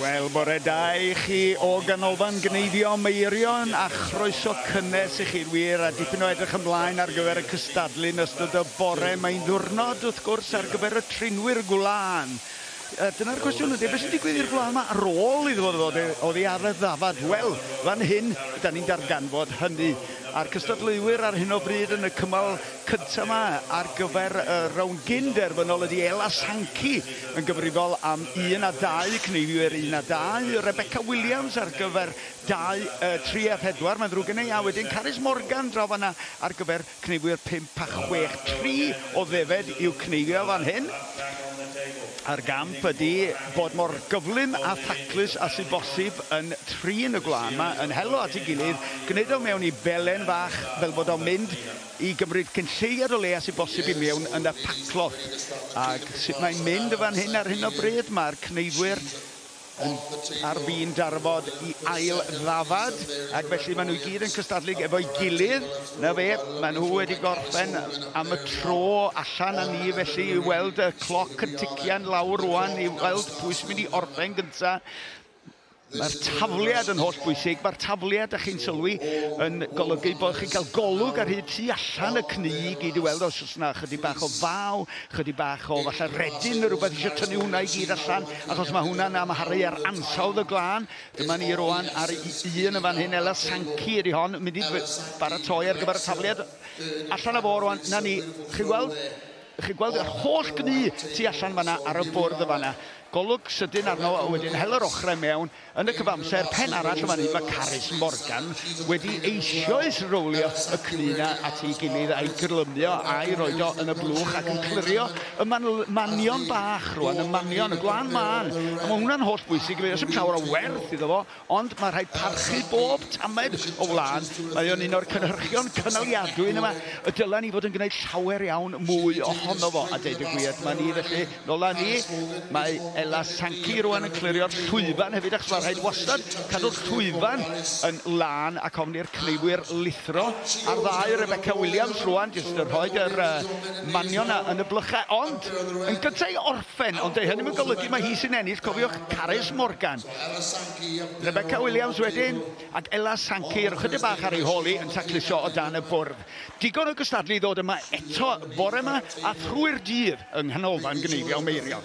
Wel, bore da i chi o Ganolfan Gneifio Meirion a chroeso cynnes i chi'n wir a dipyn o edrych ymlaen ar gyfer y cystadlu yn ystod y bore. Mae'n ddiwrnod, wrth gwrs, ar gyfer y trinwyr gwlân. A dyna'r cwestiwn ydy, beth sy'n digwydd i'r gwlân yma ar ôl iddo fo ddod oddi ar y ddafad? Wel, fan hyn, da ni'n darganfod hynny a'r cystadleuwyr ar hyn o bryd yn y cymal cyntaf yma ar gyfer y rownd gyn-derfynol ydy Ela Sankey yn gyfrifol am un a dau, cneifwyr un a dau, Rebecca Williams ar gyfer dau, yy, tri a phedwar, mae'n ddrwg gen i, a wedyn Carys Morgan draw fan'na ar gyfer cneifwyr pump a chwech. Tri o ddefed i'w cneifio fan hyn, a'r gamp ydy bod mor gyflym a thaclus â sy'n bosib yn trin y gwlân 'ma, yn helo at ei gilydd, gwneud o mewn i belen fach fel bod o'n mynd i gymryd cynlleied o le a sy'n bosib i mewn yn y paclot. Ac sut mae'n mynd yn fan hyn ar hyn o bryd? Mae'r cneuddwyr yn ar fin darfod i ail ddafad ac felly maen nhw i gyd yn cystadlu efo'i gilydd. Na fe, maen nhw wedi gorffen am y tro allan a ni felly i weld y cloc yn tician lawr rwan i weld pwy sy'n mynd i orffen gyntaf. Mae'r tafliad yn holl bwysig. Mae'r tafliad, da chi'n sylwi, yn golygu bod chi'n cael golwg ar hyd tu allan y cnu i gyd i weld os oes yna chydig bach o faw, chydig bach o falle redyn neu rhywbeth eisiau tynnu hwnna i gyd allan, achos mae hwnna'n amharu ar ansawdd y glân. Dyma ni roan ar un yn fan hyn, Ela Sanci ydy hon, mynd i baratoi ar gyfer y tafliad. Allan a fo roan, na ni, chi'n gweld? Chi'n gweld yr holl gnu tu allan fan'na ar y bwrdd yn fan'na? Golwg sydyn arno a wedyn hel yr ochrau mewn. Yn y cyfamser, pen arall yn fan hyn, mae Carys Morgan wedi eisioes rowlio y cnu 'na at ei gilydd a'i gyrlymio a'i roid o yn y blwch ac yn clirio y man manion bach rwan, y manion, y gwlân mân. A mae hwnna'n holl bwysig i mi. Does dim llawer o werth iddo fo Ond mae rhaid parchu bob tamed o wlân, mae o'n un o'r cynhyrchion cynaliadwy yn yma, y dylen ni fod yn gwneud llawer iawn mwy ohono fo, a deud y gwir, dyma ni felly, nôl â ni, mae Ella Sankey rŵan yn clirio'r llwyfan hefyd achos mae rhaid wastad cadw'r llwyfan yn lân ac ofn i'r cneifwyr lithro ar ddau, Rebecca Williams rŵan jyst yn rhoi yr uh, manion na yn y blychau, ond yn gyntaf i orffen, ond ei hynny yn golygu mae hi sy'n ennill, cofiwch Carys Morgan, Rebecca Williams wedyn, ac Ella Sankey yr ychydig bach ar ei hôl hi yn tacluso o dan y bwrdd. Digon o gystadlu i ddod yma eto bore yma a thrwy'r dydd yng Nghanolfan Gneifio Meirion.